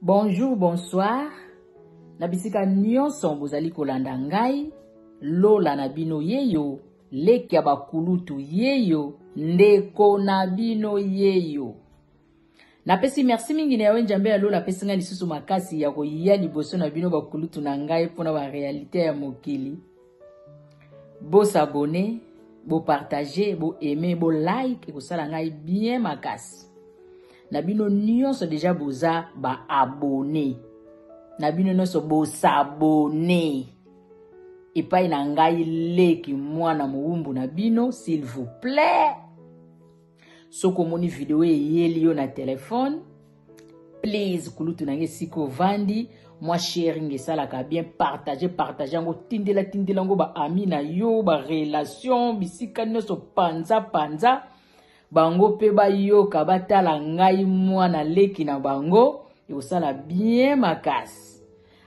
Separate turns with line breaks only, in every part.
Bonjour, bonsoir. Na bisika nyonso bozali kolanda ngai, lola na bino yeyo, leki ya bakulutu yeyo, ndeko na bino yeyo. napesi merci mingi na yawe njambe ya lola apesi ngai lisusu makasi ya koya liboso na bino bakulutu na ngai mpo na barealité ya mokili Bo s'abonner, bo partager, bo aimer, bo like ekosala ngai bien makasi. Na bino nyonso deja boza ba abonner. Na bino nyonso bo s'abonner. epai na ngai leki mwana mowumbu na bino s'il vous plaît soki omoni video eyeli yo na telefone please kulutu na ngai esika ovandi mwa sharing esalaka bien partage partage yango tindela tindela yango baami na yo barelation bisika nyonso panza panza bango mpe bayoka batala ngai mwana leki na bango ekosala bien makasi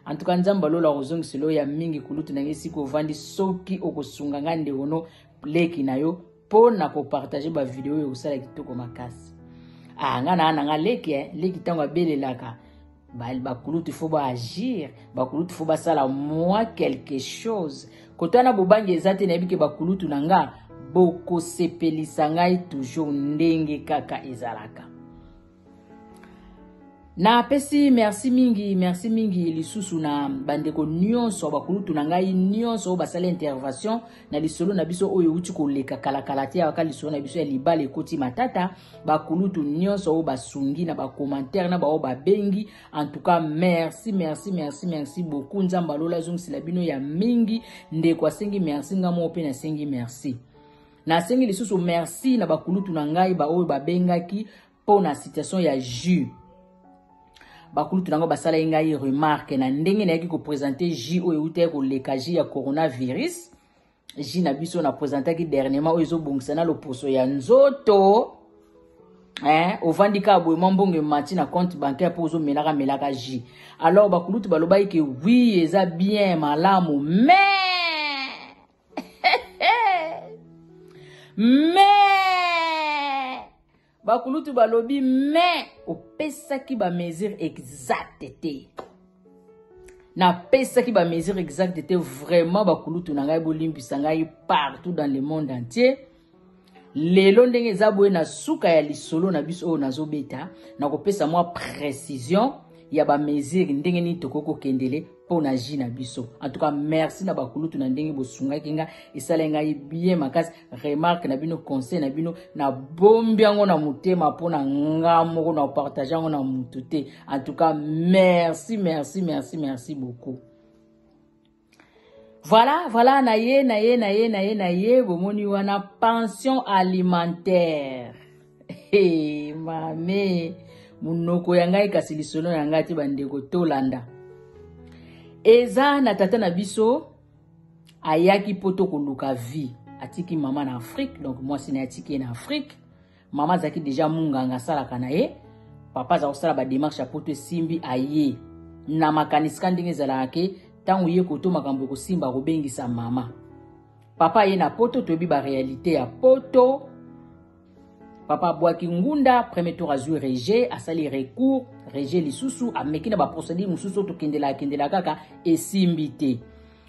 antuka nzambe alola kozongisela oyo ya mingi kulutu na ngai esika ovandi soki okosunga ngai ndekono leki na yo mpo na kopartage bavideo oyo kosala kitoko makasi ah, nga naa na nga leki eh, leki ntango abelelaka bakulutu fo baagir bakulutu fo basala mwa quelque chose koto wana bobangi eza te nayebi ke bakulutu na nga bokosepelisa ngai toujours ndenge kaka ezalaka napesi merci mingi merci mingi lisusu na bandeko nyonso bakulutu na ngai nyonso oyo basali intervention na lisolo na biso oyo euti koleka kalakala te yawaka lisolo na biso ya libala ekoti matata bakulutu nyonso oyo basungi na bakomantere na baoyo babengi en tout cas merci merci merci merci beaucoup nzambe alola azongisela bino ya mingi ndeko asengi merci ngai moko mpe nasengi merci Nasengi lisusu merci na bakulutu na ngai baoyo babengaki mpo na situation ya jus. Bakulutu na ngai basalaki ngai remarque na ndenge nayaki kopresente jus oyo eutaki koleka jus ya coronavirus. Jus na biso na presentaki dernièrement oyo ezobongisa na loposo ya nzoto. Eh, ovandi kaka boye mwa mbongo emati na compte bancaire mpo ozomelaka melaka jus. Alors bakulutu balobaki ke oui eza bien malamu mais me bakulutu balobi me opesaki bamesure exacte te napesaki bamesure exacte te vraiment bakulutu na ngai bolimbisa ngai partout dans le monde entier lelo ndenge eza boye na suka ya lisolo na biso oyo nazobeta nakopesa mwa précision ya bamesure ndenge nini tokoki kokendele mpo na ji na biso en tout cas merci na bakulutu na ndenge bosungaki nga esalaki ngai bien makasi remarque na bino conseil na bino nabombi yango na motema mpo na nga moko na partage yango na motu te en tout cas merci merci merci merci beaucoup Voilà, voilà, na ye, na ye, na ye, na ye, na ye, bomoni wana pension alimentaire. Hey, mame, munoko ya ngai kasi lisolo ya ngai te bandeko tolanda. Eza na tata na biso ayaki poto koluka vie. Atiki mama na Afrique, donc mwasi na atiki na Afrique. mama azalaki deja munganga asalaka na ye papa aza kosala bademarshe ya poto esimbi aye na makanisi ka ndenge ezalaka ke ntango ye koto makambo ekosimba akobengisa mama papa aye na poto toyebi barealité ya poto papa abwaki ngunda premier tour azwi rejet asali recours rejet lisusu ameki na baprocédure mosusu tokendelaka kendelaka kaka esimbi te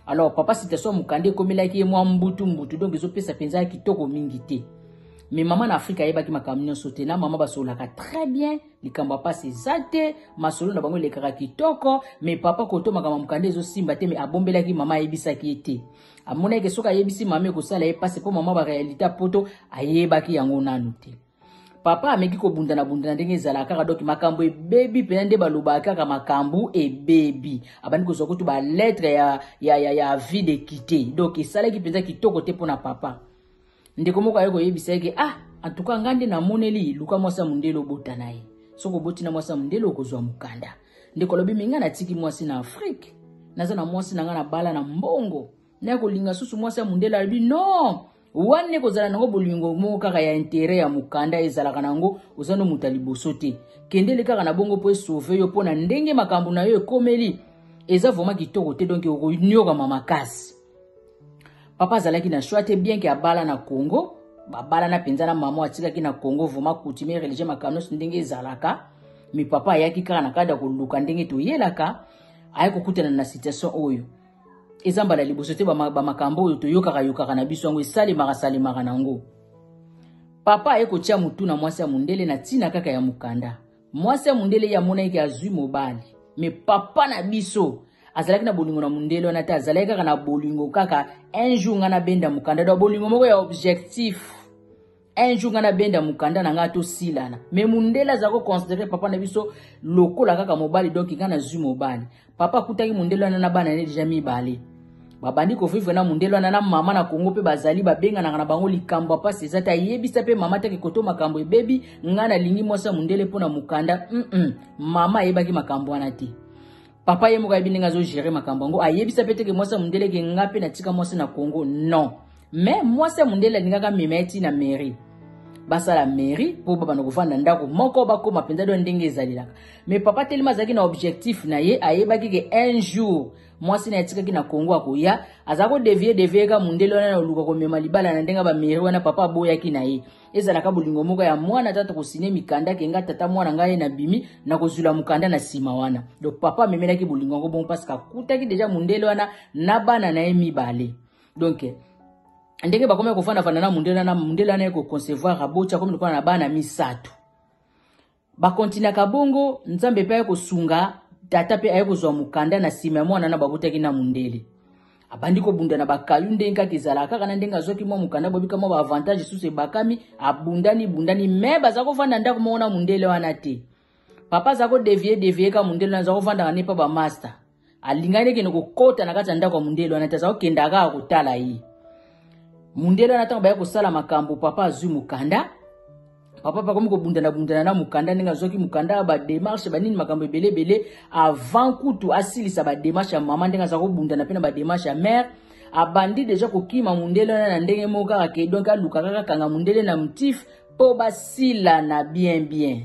alors papa citation mokanda ekomelaki ye mwa mbutu mbutu donc ezopesa mpenza kitoko mingi te mais mama na afrika ayebaki makambo nyonso te na mama basololaka très bien likambo ya mpasi eza te masolo na bango elekaka kitoko mais papa koto makambo mokanda ezosimba te mais abombelaki mama ayebisaki ye te amonaki soki ayebisi mama ekosala ye mpasi mpo mama barealité ya poto ayebaki yango nanu te papa ameki kobundana bundana ndenge ezalaka kaka donc makambo ebebi mpena nde balobaka kaka makambo ebebi abandi kozwa kutu baletre ya, ya, ya, ya vie de kite donc esalaki mpenza kitoko te mpo na papa ndeko moko aye koyebisa yeke ah antuka ngai nde namoneli luka mwasi ya mondele obota na ye soki oboti na mwasi ya mondele okozwa mokanda ndeko alobi me ngai natiki mwasi na afrike naza na mwasi na ngai na bala na mbongo naye kolinga susu mwasi ya mundele alobi non wana ekozala nango bolingo moko kaka ya intere ya mokanda ezalaka nango oza no moto ya liboso te kendele kaka na bongo mpo esauve yo mpo na ndenge makambo na yo ekomeli eza vraimen kitoko te donk okonyokama makasi papa azalaki na shoi te bien ke abala na congo babalana mpenza na mama atikaki na congo vraimen coutumier religieux makambo nyonso ndenge ezalaka mi papa ayaki kaka na kati ya koluka ndenge toyelaka ayaki kokutana na situation oyo eza mbala ya liboso te bamakambo oyo toyokaka yokaka na biso yango esalemaka salemaka na yango papa aye kotya motu na mwasi ya mondele na ntina kaka ya mokanda mwasi ya mondele ye amonaki ke azwi mobali me papa na biso azalaki na bolingo na mondele wana te azalaki kaka na bolingo kaka un jour ngai nabenda mokanda do bolingo moko ya objectif un jour nga na benda mukanda na nga tosilana me mundele aza koconsidere papa na biso lokola kaka mobali donk nga nazwi mobali papa akutaki mundele wana na bana ne deja mibale babandi kovivre na mundele wana na mama na kongo mpe bazali babenganaka na bango likambo ya mpasi eza te ayebisa mpe mama te kikoto makambo ebebi nga nalingi mwasi ya mundele mpo na mokanda mm -mm. mama ayebaki makambo wana te papa ye moko ayebi ndenge azogere makambo yango ayebisa mpe teke mwasi ya mondele eke nga mpe natika mwasi na congo non mais mwasi ya mondele alingaka amema ye ti na mairie basala mairie mpo babanda kofanda ndako moko bakóma mpenza do ndenge ezalelaka mais papa telema azalaki na objectif na ye ayebaki ke un jour mwasi na ye atikaki na congo akoya aza kodevie devie ka mondele wana na oluka komema libala na ndenge bamairie wana papa aboyaki na ye ezalaka bolingo moko ya mwana ata tokosine mikanda ke nga tata mwana ngai ye nabimi nakozwila mokanda na nsima wana donc papa amemelaki bolingo yango bongo parce que akutaki deja mondele wana na bana na ye mibale donc ndenge bakomaki kofandafanda na mondele wana mondele wana ye koconcevoir aboti akomi lokola na bana misato Bakontinaka bongo, Nzambe mpe aye kosunga, tata mpe aye kozwa mokanda na nsima ya mwana na babotaki na mundele. abandi kobunda na bakayu ndenge kaka ezalaka kaka na ndenge azwaki mwa mokanda bobika mwa baavantage esusu ebakami abundani bundani me baza kovanda ndako moko na mundele wana te papa aza kodevie devie ka mundele wana aza kovandaka nepa bamasta alingaki nde kende kokota na kati ya ndako ya mondele wana te aza kokendaka kaka kotala ye mondele wana ntango bayaki kosala makambo papa azwi mokanda papa mpe akomi kobundanabundana na mokanda ndenge azwaki mokanda bademarshe banini makambo ebele ebele avant kutu asilisa bademarshe ya mama ndenge aza kobundana mpe na bademarshe ya mare abandi deja kokima mondele wana na ndenge moko kaka ke donk alukaka kakanga mondele na motif mpo basilana bien bien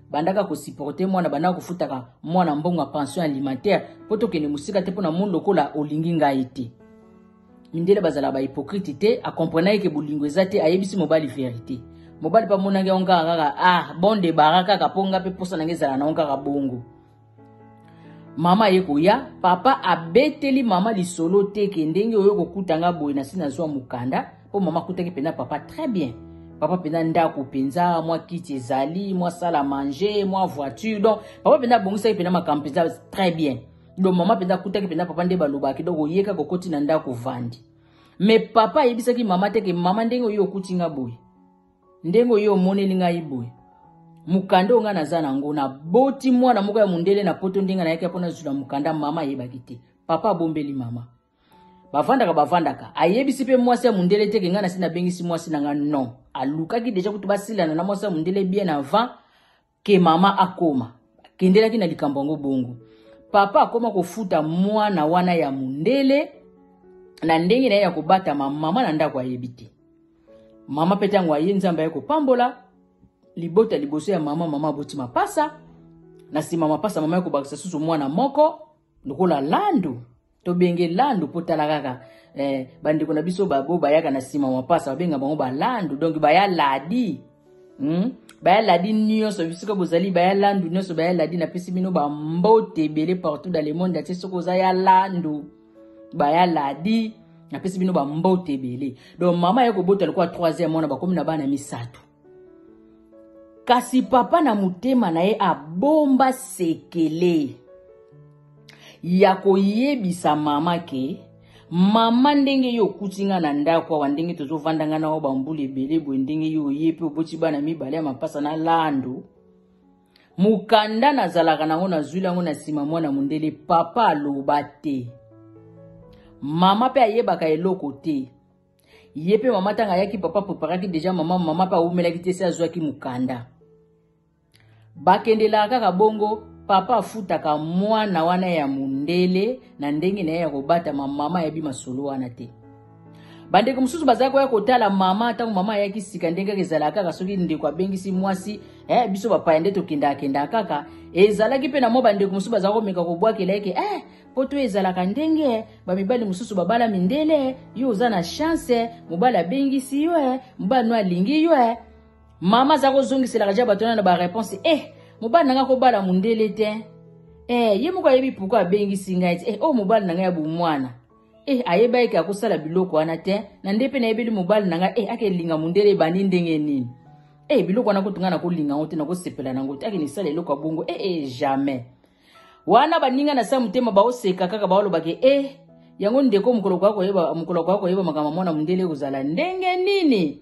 bandaka kosiporte mwana bandaka kofutaka mwana mbongo ya pension alimentaire mpo tokende mosika te mpo na moni lokola olingi ngai te mindele bazalaka bahypokrite te akomprenaki ke bolingo eza te ayebisi mobali verite mobali mpe amonaki yango kaka kaka ah bon debara kaka mpo ngai mpe mposa na ngai ezala na yango kaka bongo mama aye koya papa abeteli mama lisolo te ke ndenge oyo kokuta nga boye nasi nazwa mokanda mpo mama akutaki mpenza papa très bien papa mpenza ndako mpenza mwa kiti ezali mwa sala manger mwa voiture donc papa mpenza abongisaki mpenza makambo mpenza très bien donc mama mpenza akutaki mpenza papa nde balobaki donc oyeka kokoti na ndako vandi me papa ayebisaki mama te ke mama ndenge oyo okuti nga boye ndenge oyo omoneli ngai boye mokanda oyo ngai naza na yango naboti mwana moko ya mondele na poto ndenge nayaki mpo nazwila mokanda mama ayebaki te papa abombeli mama bavandaka bavandaka ayebisi mpe mwasi ya mondele te ke ngai nasi nabengisi mwasi na ngai non alukaki deja kutu basilana na mwasi ya mondele bien avant ke mama akoma akendelaki na likambo yango bongo papa akoma kofuta mwana wana ya mondele na ndenge na ye ya kobatama mama na ndako ayebi te mama mpe ntango aye nzambe aye kopambola libota liboso ya mama mama aboti mapasa na nsima mapasa mama ya kobakisa susu mwana moko lokola landu tobenge landu mpo tala kaka eh, bandeko na biso babo bayaka na nsima mapasa babenga bango balandu donc baya ladi hmm? baya ladi nyonso bisika bozali baya landu nyonso baya ladi napesi bino bambote ebele partout dans le monde atie soki oza ya landu baya ladi napesi bino bambote ebele donc mama ye kobota lokola 3 mwana bakomi na bana misato kasi papa na motema na ye abomba sekele ya koyebisa mama ke mama ndenge yo okuti nga na ndako awa ndenge tozovanda nga na yo bambula ebele boye ndenge yo oye mpe oboti bana mibale ya mapasa na lando mokanda nazalaka nango nazwili yango na nsima mwana mondele papa aloba te mama mpe ayebaka eloko te ye mpe mama ntango ayaki papa preparaki deja mama mama mpe awumelaki te se azwaki mokanda bakendelaka kaka bongo papa afutaka mwana wana ya mondele na ndenge na ye ya kobatama mama ayebi masolo wana te bandeko mosusu bazali koya kotala mama ntango mama ayaki sika ndenge kaka ezalaka kaka soki ndeko abengisi mwasi eh, biso bapaya nde tokendaka kendaka kaka ezalaki mpe na mwa bandeko mosusu bazali komeka kobwakela eke eh, poto ezalaka ndenge bamibali mosusu babala mindele yo oza na chance mobali abengisi yo e mobali no alingi yo e mama aza kozongiselaka ja bato wana na bareponse e eh, mobali na ngai kobala mondele te e ye moko ayebi pourkui abengisi ngai te e oyo mobali na ngai ya bomwana e ayeba eke akosala biloko wana te na nde mpe nayebeli mobali na ngai e akelinga mondele ebandi ndenge nini e biloko wana kutu ngai nakolinga yango te nakosepela na yango te akende esala eloko ya bongo ee jamais wana baninga na sa motema baoseka kaka baolobaka e eh, yango ndeko mokolo koya koyeba mokolo koya koyeba makambo mwana mondele ekozala ndenge nini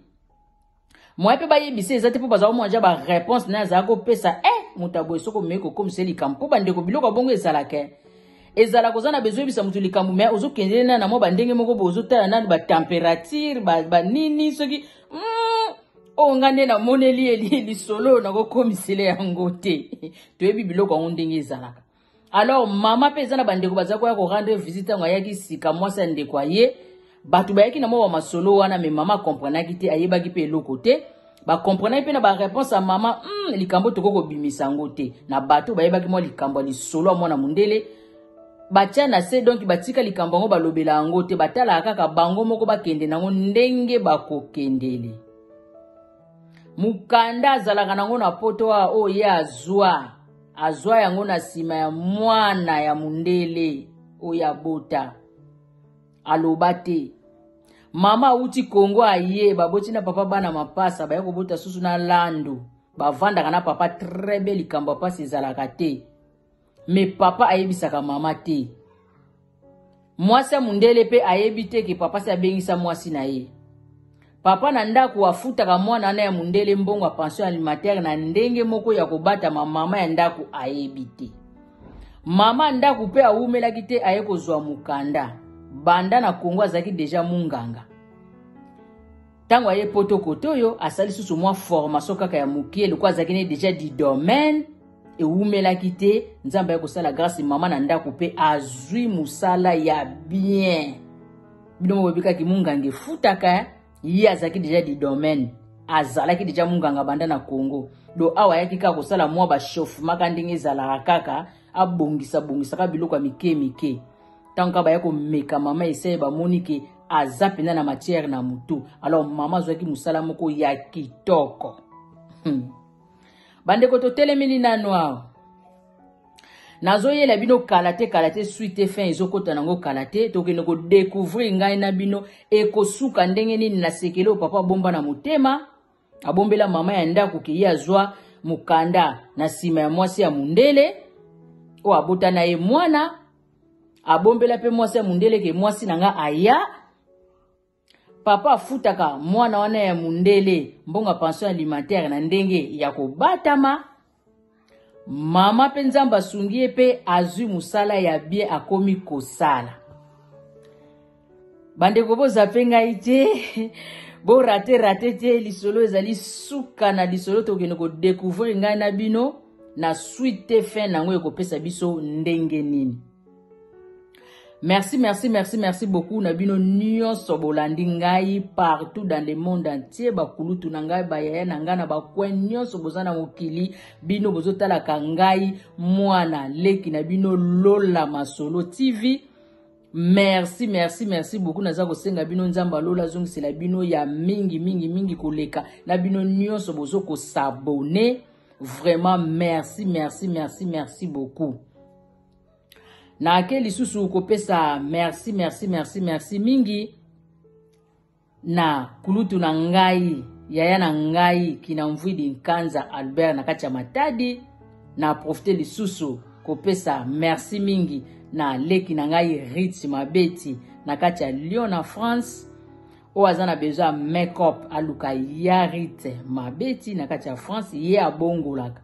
moye mpe bayebisa eza te mpo bazala komwanja bareponse naye azala kopesa e eh, moto aboye soki omei kokomisa ye likambo mpo bandeko biloko ya bongo ezalaka eh. ezalaka oza na bezo oyebisa moto likambo me ozokendele na na mwa bandenge moko boye ozotala nani batemperature banini soki mm, oyo ngai nde namoneli ye lisolo oyo nakokomisele yango te toyebi biloko yango ndenge ezalaka alors mama mpe eza na bandeko baza koya korendre visite ntango ayaki sika mwasi ya ndeko aye bato bayaki na mwa bamasolo wana me mama akomprenaki te ayebaki mpe eloko te bakomprenaki mpe na bareponse ya mama mm, likambo tokoki kobimisa yango te na bato bayebaki mwa likambo ya lisolo ya mwana mondele batya na se donki batika likambo yango balobela yango te batalaka kaka bango moko bakende na yango ndenge bakokendele mokanda azalaka na yango na poto awa oyo oh, ye azwa azwa yango na nsima ya mwana ya mondele oyo oh, abota aloba te mama awuti kongo aye baboti na papa bana mapasa baya kobota susu na lando bavandaka na papa très bien likambo ya mpasi ezalaka te me papa ayebisaka mama te mwasi ya mondele mpe ayebi te ke papa si abengisa mwasi na ye papa na ndako afutaka mwana wana ya mondele mbongo ya pension alimentaire na ndenge moko ya kobatama mama ya ndako ayebi te mama ya ndako mpe awumelaki te aye kozwa mokanda banda na kongo azalaki deja munganga ntango aye poto kote oyo asali susu mwa formation kaka ya moke lokola azalaki ne deja du domaine ewumelaki te nzambe aye kosala grâce mama na ndako mpe azwi mosala ya bien bino moko bobikaki monganga efutaka ye azalaki deja du domaine azalaki deja monganga banda na congo do awa ayaki kaka kosala mwa bachauffemaka ndenge ezalaka kaka abongisa bongisaka biloko ya mike mike ntango kaka baya komeka mama eseye bamoni ke aza mpenza na matière na motu alors mama azwaki mosala moko ya kitoko hmm. bandeko totelemeli nano awa nazoyela bino kala te kala te suite te fin ezokota nango kala te tokende kodecouvrir ngai na bino ekosuka ndenge nini nasekeli oyo papa bomba na motema abombela mama ya ndako ke ye azwa mokanda na nsima ya mwasi ya mondele oyo abota na ye mwana abombela mpe mwasi ya mondele ke mwasi na nga aya papa afutaka mwana wana ya mondele mbongo ya pension alimentaire na ndenge ya kobatama mama mpe nzambe asungi ye mpe azwi mosala ya bien akomi kosala bandeko bozape ngai te borate rate te lisolo ezali suka na lisolo tokende kodecouvrir ngai na bino na suite te fin na yango ekopesa biso ndenge nini merci merci merci merci beaucoup na bino nyonso bolandi ngai partout dans le monde entier bakulutu na ngai bayaya na ngai na bacoin nyonso boza na mokili bino bozotalaka ngai mwana leki na bino lola masolo tv merci merci merci beaucoup naza kosenga bino nzambe alola azongisela bino ya mingi mingi mingi koleka na bino nyonso bozo kosabone vraiment merci merci merci merci beaucoup nake lisusu kopesa merci merci merci merci mingi na kulutu na ngai yaya na ngai kinamvwidi nkanza albert na kati ya matadi na profite lisusu kopesa merci mingi na leki na ngai rit mabeti na kati ya lyon na france oyo aza na besoin ya makeup aluka ya rit mabeti na kati ya france ye abongolaka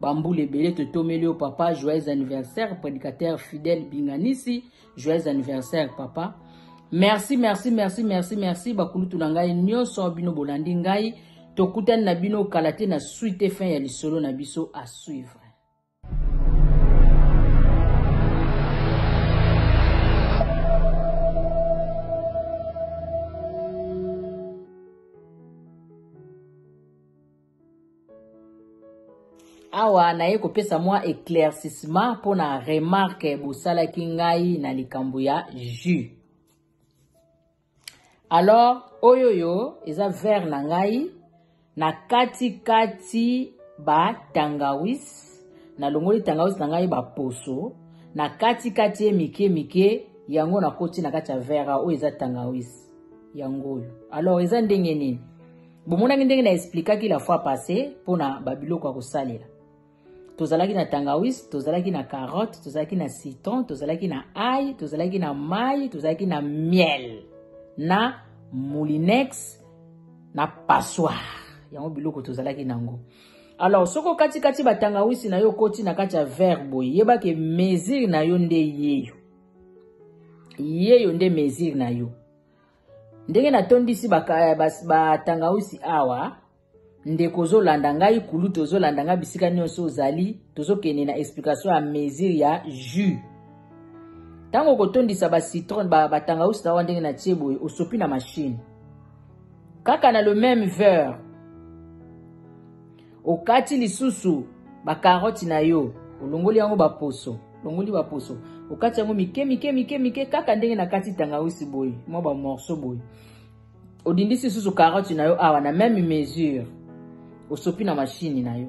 bambula ebele totomeli yo papa joyeux anniversaire prédicateur fidèle binganisi joyeux anniversaire papa merci merci merci merci merci bakulutu na ngai nyonso bino bolandi ngai tokutani na bino kala te na suite fin ya lisolo na biso à suivre awa naye kopesa mwa éclaircissement mpo na remarque bosalaki ngai na likambo ya jus alors oyoyo eza vere na ngai na katikati batangawis nalongoli tangawis na ngai baposo na katikati ye mike mike yango nakoti na kati ya vere oyo eza tangawis yango oyo alors eza ndenge nini bomonaki ndenge na explikaki la fois passé mpo na babiloko ya kosalela tozalaki na tangawis tozalaki na carotte tozalaki na citron tozalaki na ai tozalaki na mai tozalaki na miel na moulinex na passoire yango biloko tozalaki na yango alors soki okatikati batangawisi na yo okoti na kati ya verre boye yebake mesure na yo nde yeyo yeyo nde mesure na yo ndenge natondisi batangausi ba, ba awa ndeko ozolanda ngai kulutu ozolanda ngai bisika nyonso ozali tozokende na explication ya mesure ya jus ntango okotondisa bacitron batangausi ba, ba awa ndenge natie boye osopi na mashine kaka na le meme verre okati lisusu bakaroti na yo olongoli yango baposo longoli baposo okati yango mike mike mike mike kaka ndenge nakati tangawisi boye mwa bamorso boye odindisi lisusu karoti na yo awa na meme mesure osopi na mashini na yo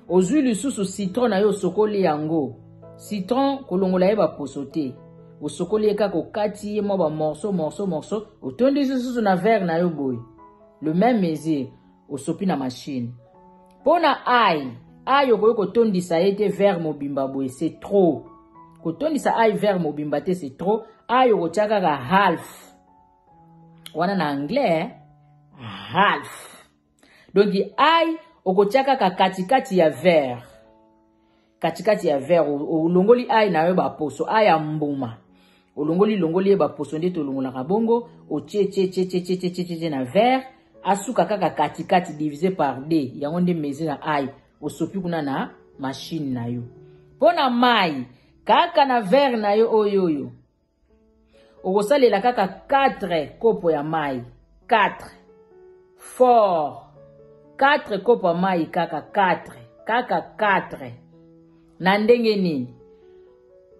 ozwi lisusu citron na yo osokoli yango citron kolongola ye baposo te osokoli ye kaka okati ye mwa bamorso morso morso otondisi lisusu na verre na yo boye le meme mesure Osopi na machine. Mpo na ai, ai okoki kotondisa ye te vert mobimba boye se trop. Kotondisa ai vert mobimba te se trop. Ai okotya kaka half. Wana na anglais, eh? half. Donc ai okotya kaka katikati ya vert. katikati ya verre olongoli ail na yo baposo ail ya mbuma olongoli longoli ye baposo nde tolongolaka bongo otie tie tie tie tie tie tie na verre asuka kaka katikati divise par d yango nde mezi na ail osopi kuna na mashine na yo mpo na mai kaka na verre na yo oyo oyo okosalela kaka 4 kopo ya mai 4 fort 4 kopo ya mai kaka 4 kaka 4 na ndenge nini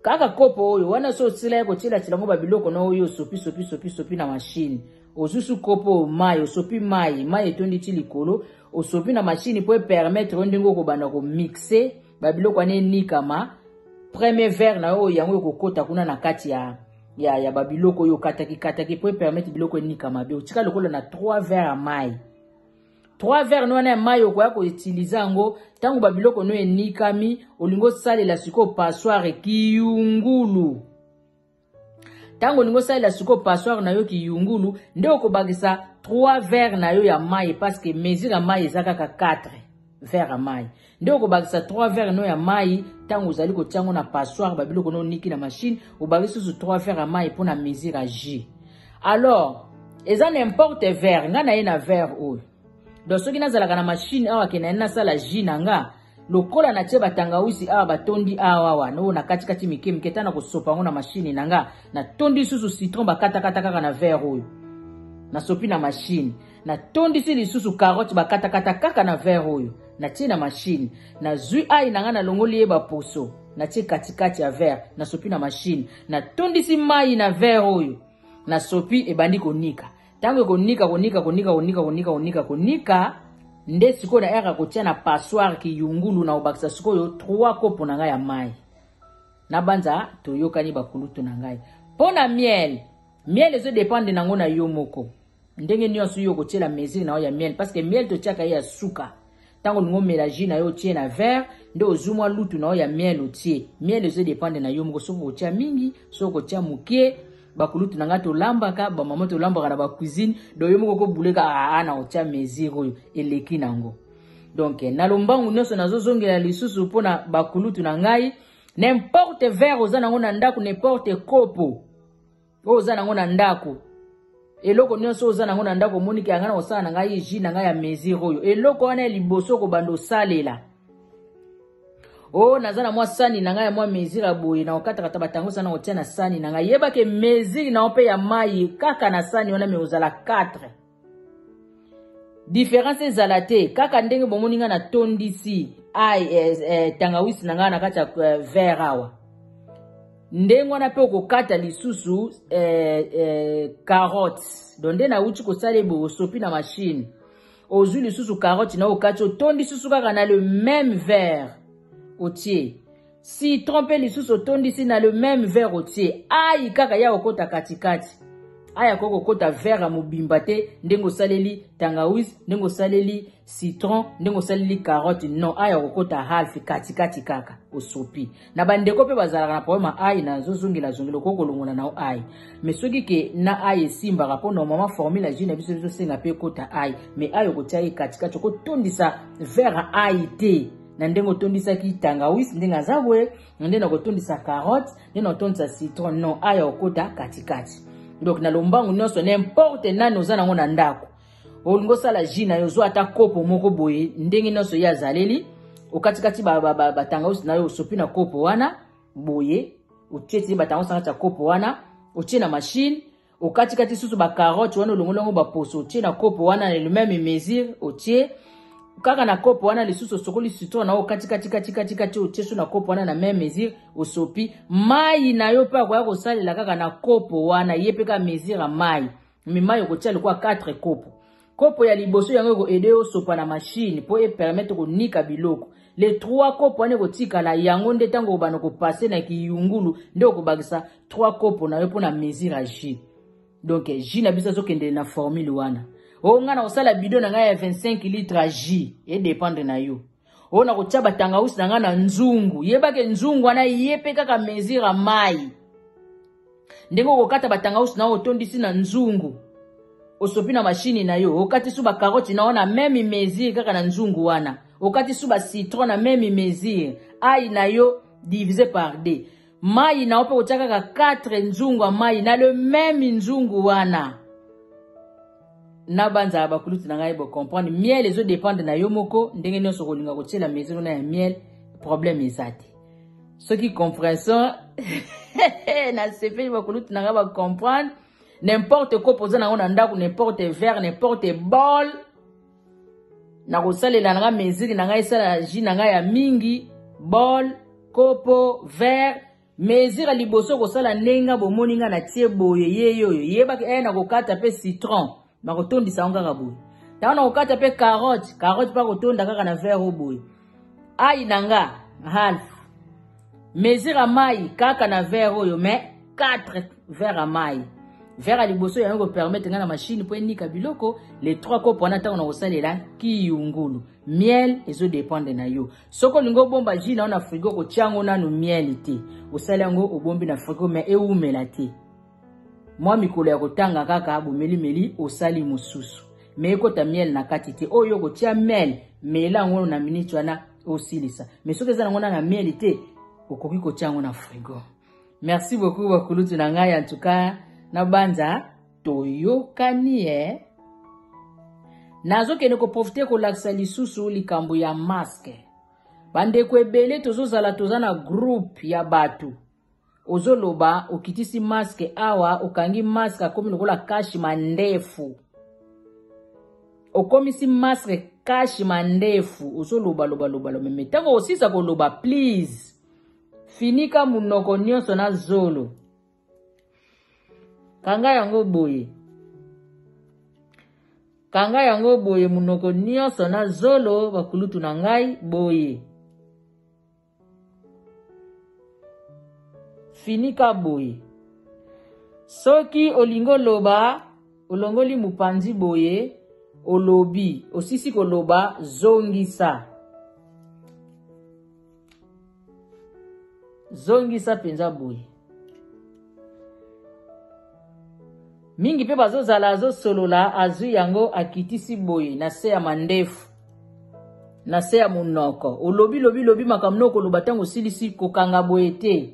kaka kopo oyo wana so osila ye kotyelatyela yango babiloko na oyo osopi sopi sopi sopi na mashine ozusu kopo mai osopi mai mai etondi ti likolo osopi na mashine mpo epermetre yo ndenge okobanda komixe ba biloko wana enikama premier verre na yo yango ekokota kuna na kati ya ya, ya ba biloko oyo okataki kataki mpo epermete biloko enikama be otika lokola na 3 verre ya mai 3 verre no wana ya mai okoya koutilize yango ntango ba biloko no enikami olingi osalela sikoyo passoire kiyungulu ntango olingi osalela sikoyo passoire na yo kiyungulu nde okobakisa 3 verre na yo ya mai parceke mesure ya mai eza kaka 4 verre ya mai nde okobakisa 3 verre no ya mai ntango ozali kotia yango na passoire babiloko no oniki na mashine obakisi susu 3 verre ya mai mpo na mesure ya jus alors eza na importe verre ngai na ye na verre oyo donc soki nazalaka na mashine awa ke na ye nasala jus na nga lokola natie batangawisi awa batondi awawa noo na katikati mike mike ta na kosopa yango na mashini na nga natondi lisusu citron bakatakata kaka na verre oyo nasopi na mashini natondisi lisusu karote bakatakata kaka na verre oyo natie na mashini nazwi ai na ngai nalongoli ye baposo natie katikati ya verre nasopi na mashini natondisi mai na verre oyo nasopi ebandi konika ntango ekonika konika konika konika konika konika konika nde sikoyo na ere akotia na passoire kiyungulu na kobakisa sikoyo 3 kopo na ngai ya mai nabanza toyokani bakulutu na ngai mpo na miel miel ezodepende nango na yo moko ndenge nyonso yo okotiela mesure na yo ya miel parce que miel totiaka ye ya suka ntango olingi omela jus na yo otie na verre nde ozwi mwa lutu na yo ya miel otie miel ezo dependre na yo moko soki okotya mingi soki okotya moke bakulutu na ngai tolambaka bamama tolambaka na bacuisine donc yo moko okobuleka aa ah, ah, na otya mesure oyo eleki nango donc na lombangu nyonso nazozongela lisusu mpo na bakulutu na ngai n'importe verre oza nango na ndako n'importe kopo oyo oza nango na ndako eloko nyonso oza nango na ndako omoni ke yanga na kosala na ngai ji na ngai ya mesure oyo eloko wana ya liboso kobanda osalela o oh, naza na mwa sani na ngai ya mwa mesure ya boye na kokatakata batango sana kotia na sani na ngai yebake mesure na yo mpe ya mai kaka na sani wana me ozala 4 Différence ezala te kaka ndenge bomoni nga natondisi ai eh, eh, tangawisi na ngai na kati ya eh, verre awa ndenge wana mpe okokata lisusu eh, eh, carotte don nde nauti kosala ebe osopi na mashine ozwi lisusu carotte na okati otondi susu kaka na le même verre otie Citron pe lisusu otondisi na le meme verre otie ayi kaka ya okota katikati. Ayi akoki kokota verre ya mobimba te ndenge osaleli tangawis, ndenge osaleli citron, ndenge osaleli carotte non ayi akokota half katikati kaka osopi. Na ba ndeko pe bazalaka na problème ya ayi na zozongela zongela okoki kolongola na yo ayi. Mais soki ke na ayi esimbaka po normalement formule ya jus na biso ezosenga pe ekota ayi mais ayi okotia ye katikati okotondisa verre ya ayi te. na ndenge otondisaki tangawisi ndenge aza boye na ndenge nakotondisa carotte ndenge nakotondisa citron non aya okota katikati donc na lombangu nyonso nimporte nani oza nango na ndako olingi osala ji na yo ozwa ata kopo moko boye ndenge nyonso ye azaleli okatikati batangawisi na yo osopi na kopo wana boye otie tie batangawisi na kati ya kopo wana otie na mashine okatikati susu ba carotte wana olongoli yango baposo otie na kopo wana na le meme mesure otie kaka na kopo wana lisusu osokoli citron na yo okatikatikatikati otie so na kopo wana na meme mesure osopi mai na yo mpe akoya kosalela kaka na kopo wana ye mpe kaka mesure ya mai mi mai okotia lokola 4 kopo Kopo ya liboso yango eko aider yo sopa na machine po e permettre ko nika biloko. Les trois kopo wana eko tikala yango nde tango obana ko passer na kiyungulu nde oko bakisa trois kopo na yo pona mesure ya jus. Donc jus na biso azo kende na formule wana. O nga na kosala bidon na nga ya 25 litres ya jus. E dependre na yo. oyo nakotya batangausi na ngai na nzungu yebake nzungu wana ye mpe kaka mesure ya mai ndenge okokata batangausi na oyo otondisi na nzungu osopi na mashini na yo okati su bakaroti na yo na meme mesure kaka na nzungu wana okati su bacitron na meme mesure ai na yo divise par d mai na yo mpe kotya kaka 4 nzungu ya mai na le meme nzungu wana na banzala bakulutu na ngai bocomprendre miel ezo dépendre na yo moko ndenge nyonso okolinga kotyela maison wana ya miel problème eza te soki compréhension nasepeli bakulutu na ngai bacomprendre n'importe kopo oza nango na ndako n'importe vert n'importe bol nakosalela na ngai mesure na ngai esala ji na ngai ya mingi bol kopo vert Mezira liboso kosala ndenge nga bomoni nga na tie boye yeye oyo yebaki eh nakokata mpe citron nakotondisa yango kaka boye ntango nakokata mpe carotte carotte mpe akotonda kaka na verre oyo boye ai na nga half mezira mai kaka na verre oyo me 4 verre ya mai verre ya liboso yango kopermetre ngai na mashine mpo enika biloko le 3 kopo wana ntango nakosalela kiyungulu miel ezo dependre na yo soki olingi obomba ji na yo na frigo kotya yango nanu miel te osali yango obombi na frigo me ewumela te mwa mikolo ya kotanga kaka bomelimeli osali mosusu me ekota miel na kati te oyo okotya miel mela yango na miniti wana osilisa me soki eza nango na na miel te okoki kotya yango na frigo merci beaucoup bakulutu na ngai antuka nabanza toyokani eh? nazokende koprofite kolakisa lisusu likambo ya maske bandeko ebele tozozala toza na groupe ya bato ozoloba okitisi maske awa okangi maske akomi lokola kashi mandefu okomisi maske kashi mandefu ozoloba lobalobaloba me ntango osisa koloba please finika monoko nyonso na zolo kanga yango boye kanga yango boye monoko nyonso na zolo bakulutu na ngai boye finika boye soki olingi oloba olongoli mopanzi boye olobi osisi koloba zongisa zongisa mpenza boye mingi mpe bazozala azosolola azwi yango akitisi boye na se ya mandefu na se ya monoko olobi lobi lobi makambo na okoloba ntango osilisi kokanga boye te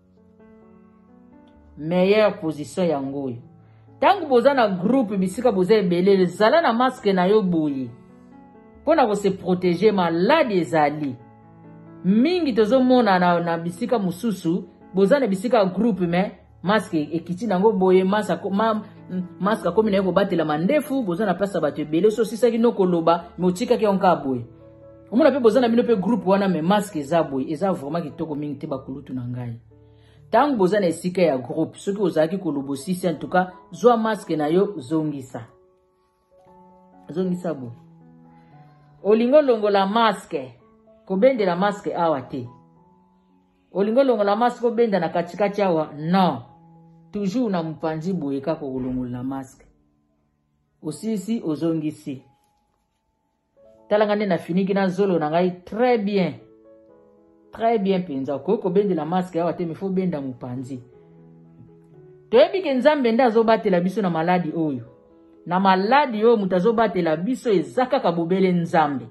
meilleure position yango oyo ntango boza na groupe bisika boza ebele zala na maske na yo boye mpo na kose protege maladi ezali mingi tozomona na, na bisika mosusu boza na bisika ya groupe me maske ekiti nango boye maske akomi na ye kobatela mandefu boza na place ya bato ebele so osisaki no koloba me otikaki yango kaka boye omona mpe boza na bino mpe groupe wana me maske eza boye eza vraiment kitoko mingi te bakulutu na ngai ntango boza na esika ya groupe soki ozalaki koloba osisi en tout cas zwa maske na yo zongisa zongisa boye olingi olongola maske kobendela maske awa te olingi olongola maske obenda na katikati awa non toujours na mopanzi boye kaka kolongola maske osilisi ozongisi tala nga nde nafiniki na zolo na ngai très bien très bien mpenza okoki kobendela maske awa te mifo obenda mopanzi toyebi ke nzambe nde azobatela biso na maladi oyo na maladi oyo moto azobatela biso eza kaka bobele nzambe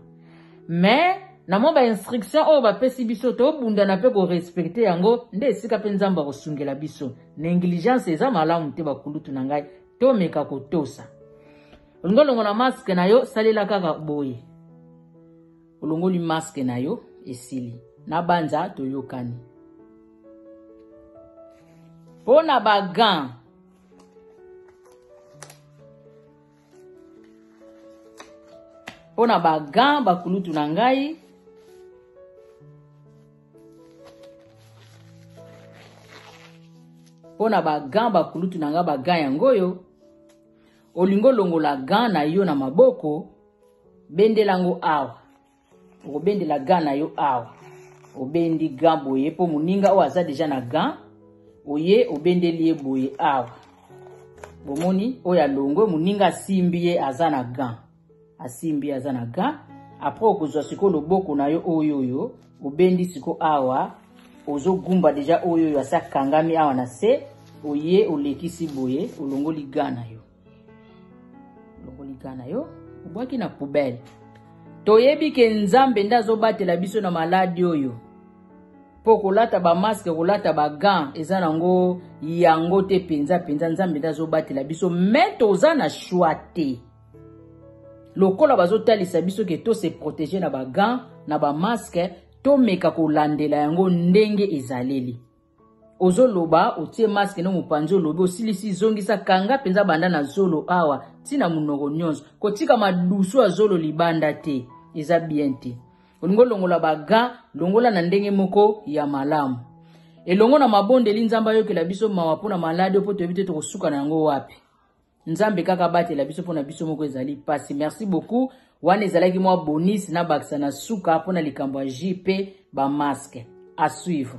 mais na mwa bainstruction oyo bapesi biso tobundana mpe korespecte yango nde esika mpe nzambe akosungela biso negligence eza malamu te bakulutu na ngai tomeka kotosa olingi olongola maske na yo salela kaka boye olongoli maske na yo esili nabanza toyokani mpo na bagan mpo na bagan bakulutu na ngai mpo na bagan bakulutu na ngai bagan yango oyo Olingi olongola gant na yo na maboko, bendela yango awa. Okobendela gant na yo awa. Obendi gant boye mpo moninga oyo aza deja na gant, oye obendeli ye boye awa. Bomoni oyo alongwe, moninga asimbi ye aza na gant. asimbi aza na ga après okozwa sikoyo loboko na yo oyo oyo obendi siko awa ozogumba deja oyo oyo asi akangami awa na se oye olekisi boye olongoli ga na yo olongoli ga na yo obwaki na poubele toyebi ke nzambe nde azobatela biso na maladi oyo mpo kolata bamaske kolata bagan eza nango yango te mpenza mpenza nzambe nde azobatela biso me toza na shwa te lokola bazotalisa biso ke to se protéger na ba gants na ba masques tomeka kolandela yango ndenge ezaleli ozoloba otie maske no mopanzi olobi osilisi zongisa kanga mpenza banda na zolo awa ntina monoko nyonso kotika madusu ya zolo libanda te eza bien te olingi olongola baga longola na ndenge moko ya malamu elongo na mabondeli nzambe ayokela biso mawa mpo na maladi oyo mpo toyebi te tokosuka na yango wapi nzambe kaka abatela biso mpona biso moko ezali pasi merci beaucoup wana ezalaki mwa bonis na bakisa na suka mpona likambo ya ji mpe bamaske à suivre